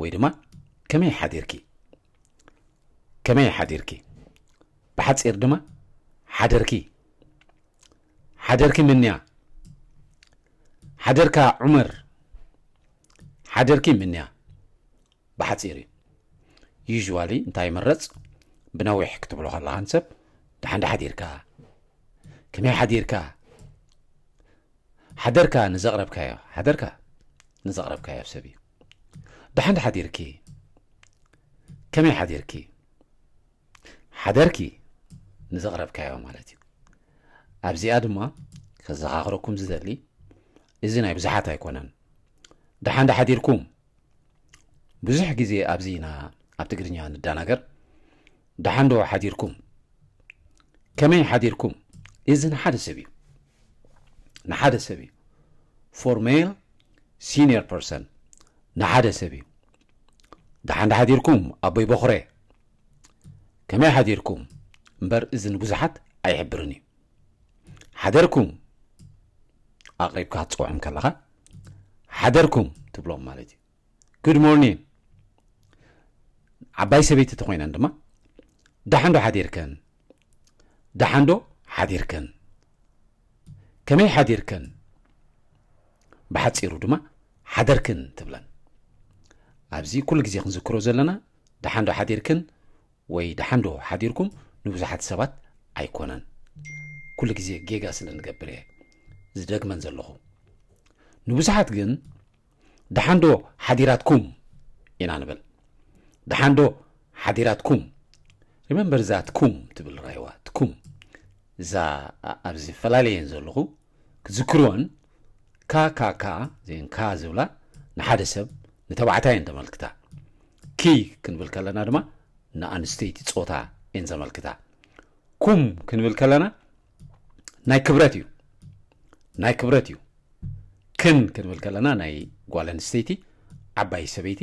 ወይ ድማ ከመይ ሓዲርኪ ከመይ ሓዲርኪ ብሓፂር ድማ ሓደርኪ ሓደርኪ ምንያ ሓደርካ ዑመር ሓደርኪ ምንያ ብሓፂር እዩ ዩዥዋሊ እንታይ ይምረፅ ብነዊሕ ክትብሎ ከለኻን ሰብ ድሓን ሓዲርካ ከመይ ሓዲርካ ሓደርካ ንዘቕረብካዮ ሓደርካ ንዘቕረብካዮ ሰብ እዩ ደሓን ሓዲርኪ ከመይ ሓዲርኪ ሓደርኪ ንዘቕረብካዮ ማለት እዩ ኣብዚኣ ድማ ከዘኻኽረኩም ዝደሊ እዚ ናይ ብዙሓት ኣይኮነን ደሓን ዳሓዲርኩም ብዙሕ ግዜ ኣብዚ ኢና ኣብ ትግርኛ ንደናገር ደሓንዶ ሓዲርኩም ከመይ ሓዲርኩም እዚ ንሓደ ሰብ እዩ ንሓደ ሰብ እዩ ፎር ሜል ሲኒየር ፐርሰን ንሓደ ሰብ እዩ ደሓንዶ ሓዲርኩም ኣቦይ በኹረ ከመይ ሓዲርኩም እምበር እዚ ንብዙሓት ኣይሕብርን እዩ ሓደርኩም ኣቕሪብካ ክትፅውዖም ከለኻ ሓደርኩም ትብሎም ማለት እዩ ጉድ ሞርኒን ዓባይ ሰበይቲ ተኮይነን ድማ ደሓንዶ ሓዲርከን ደሓንዶ ሓዲርከን ከመይ ሓዲርከን ብሓፂሩ ድማ ሓደርክን ትብለን ኣብዚ ኩሉ ግዜ ክንዝክሮ ዘለና ደሓንዶ ሓዲርክን ወይ ደሓን ዶ ሓዲርኩም ንብዙሓት ሰባት ኣይኮነን ኩሉ ግዜ ጌጋ ስለ ንገብር እየ ዝደግመን ዘለኹ ንብዙሓት ግን ደሓን ዶ ሓዲራትኩም ኢና ንብል ደሓን ዶ ሓዲራትኩም ሪመምበር እዛ ትኩም ትብል ራይዋ ትኩም እዛ ኣብ ዝተፈላለየን ዘለኹ ክትዝክርወን ካካካ ዜን ካ ዝብላ ንሓደ ሰብ ንተባዕታይ እየን ተመልክታ ኪ ክንብል ከለና ድማ ንኣንስተይቲ ፆታ እየን ዘመልክታ ኩም ክንብል ከለና ናይ ክብረት እዩ ናይ ክብረት እዩ ክን ክንብል ከለና ናይ ጓል ኣንስተይቲ ዓባይ ሰበይቲ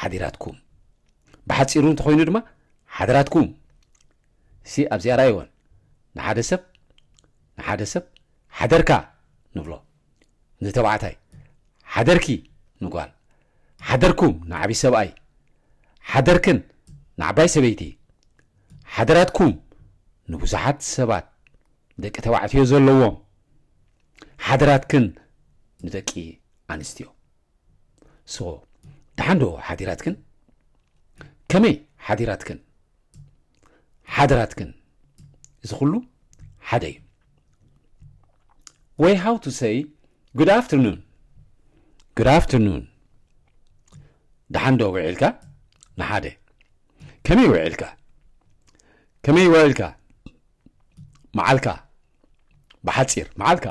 ሓዲራትኩም ብሓጺሩ እንተኾይኑ ድማ ሓድራትኩም እሲ ኣብዚኣ ራይወን ንሓደ ሰብ ንሓደ ሰብ ሓደርካ ንብሎ ንተባዕታይ ሓደርኪ ንጓል ሓደርኩም ንዓብይ ሰብኣይ ሓደርክን ንዓባይ ሰበይቲ ሓደራትኩም ንብዙሓት ሰባት ደቂ ተባዕትዮ ዘለዎም ሓደራትክን ንደቂ ኣንስትዮ ሶ ደሓን ዶ ሓዲራትክን ከመይ ሓዲራትክን ሓደራትክን እዚ ኩሉ ሓደ እዩ ወይ ሃው ቱ ሰይ ጉድ ኣፍተርኑን ጉድ ኣፍተርኑን ደሓን ዶ ውዒልካ ንሓደ ከመይ ውዒልካ ከመይ ውዒልካ መዓልካ ብሓፂር መዓልካ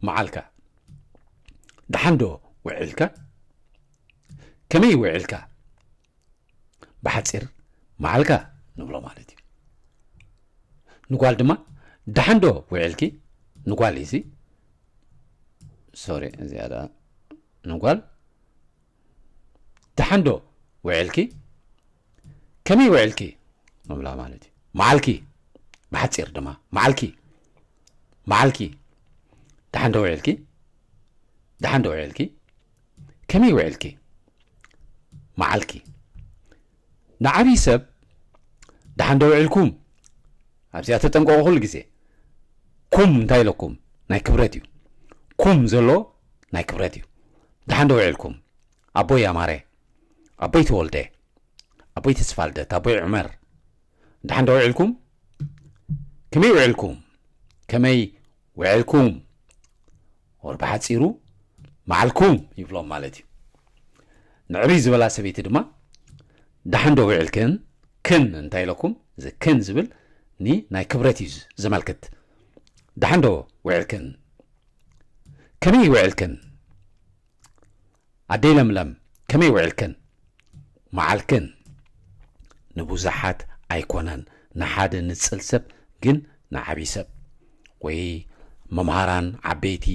መዓልካ ደሓን ዶ ውዒልካ ከመይ ውዒልካ ብሓፂር መዓልካ ንብሎ ማለት እዩ ንጓል ድማ ደሓን ዶ ውዒልኪ ንጓል እዩ ሶሪ እዚኣ ንጓል ደሓን ዶ ውዒልኪ? ከመይ ውዒልኪ? ምብላ ማለት እዩ። መዓልኪ ብሓፂር ድማ መዓልኪ መዓልኪ ደሓን ዶ ውዒልኪ? ደሓን ዶ ውዒልኪ? ከመይ ውዒልኪ? መዓልኪ ንዓብይ ሰብ ደሓን ዶ ውዒልኩም ኣብዚኣ ተጠንቀቁ ኩሉ ግዜ ኩም እንታይ ኢለኩም ናይ ክብረት እዩ ኩም ዘሎ ናይ ክብረት እዩ ደሓን ዶ ውዒልኩም ኣቦይ ኣማረ ኣቦይ ተወልደ ኣቦይ ተስፋልደት ኣቦይ ዑመር ደሓን ዶ ውዒልኩም ከመይ ውዒልኩም ከመይ ውዒልኩም ወር ብሓጺሩ መዓልኩም ይብሎም ማለት እዩ ንዕብይ ዝበላ ሰበይቲ ድማ ደሓን ዶ ውዒልክን ክን እንታይ ኢለኩም እዚ ክን ዝብል ኒ ናይ ክብረት እዩ ዘመልክት ደሓን ዶ ውዒልክን ከመይ ውዒልክን ኣደይ ለምለም ከመይ ውዒልክን መዓልክን ንቡዛሓት ኣይኮነን ንሓደ ንጽል ሰብ ግን ንዓቢ ሰብ ወይ መምሃራን ዓበይቲ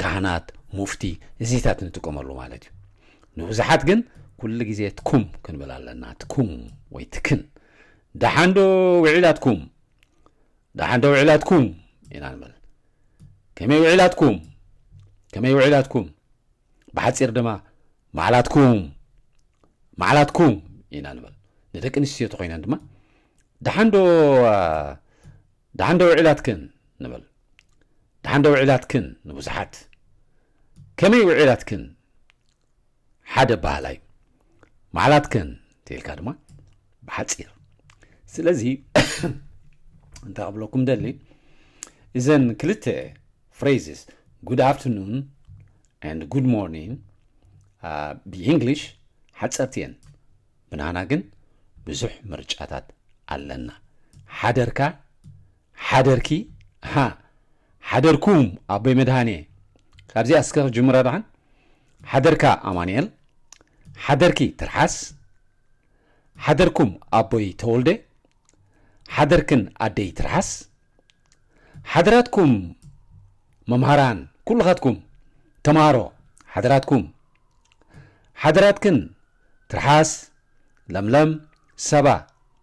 ካህናት ሙፍቲ እዚታት ንጥቀመሉ ማለት እዩ ንቡዛሓት ግን ኩሉ ግዜ ትኩም ክንብል ኣለና ትኩም ወይ ትክን ደሓንዶ ውዒላትኩም ደሓንዶ ውዒላትኩም ኢና ንብል ከመይ ውዒላትኩም ከመይ ውዒላትኩም ብሓጺር ድማ ማዕላትኩም ማዕላትኩም ኢና ንበል ንደቂ ኣንስትዮ ተኮይነን ድማ ደሓን ዶ ደሓን ዶ ውዒላትክን ንበል ደሓን ዶ ውዒላትክን ንብዙሓት ከመይ ውዒላትክን ሓደ ባህላ እዩ ማዕላትክን እንተኢልካ ድማ ብሓፂር ስለዚ እንታይ ክብለኩም ደሊ እዘን ክልተ ፍሬዝስ ጉድ ኣፍትርኑን ኣንድ ጉድ ሞርኒንግ ብእንግሊሽ ሓፀርቲ እየን ብናና ግን ብዙሕ ምርጫታት ኣለና ሓደርካ ሓደርኪ ሓ ሓደርኩም ኣቦይ መድሃኔ ካብዚኣ እስከ ክጅምራ ድሓን ሓደርካ ኣማንኤል ሓደርኪ ትርሓስ ሓደርኩም ኣቦይ ተወልደ ሓደርክን ኣደይ ትርሓስ ሓደራትኩም መምሃራን ኩልኻትኩም ተምሃሮ ሓደራትኩም ሓደራትክን ትርሓስ ለምለም ሰባ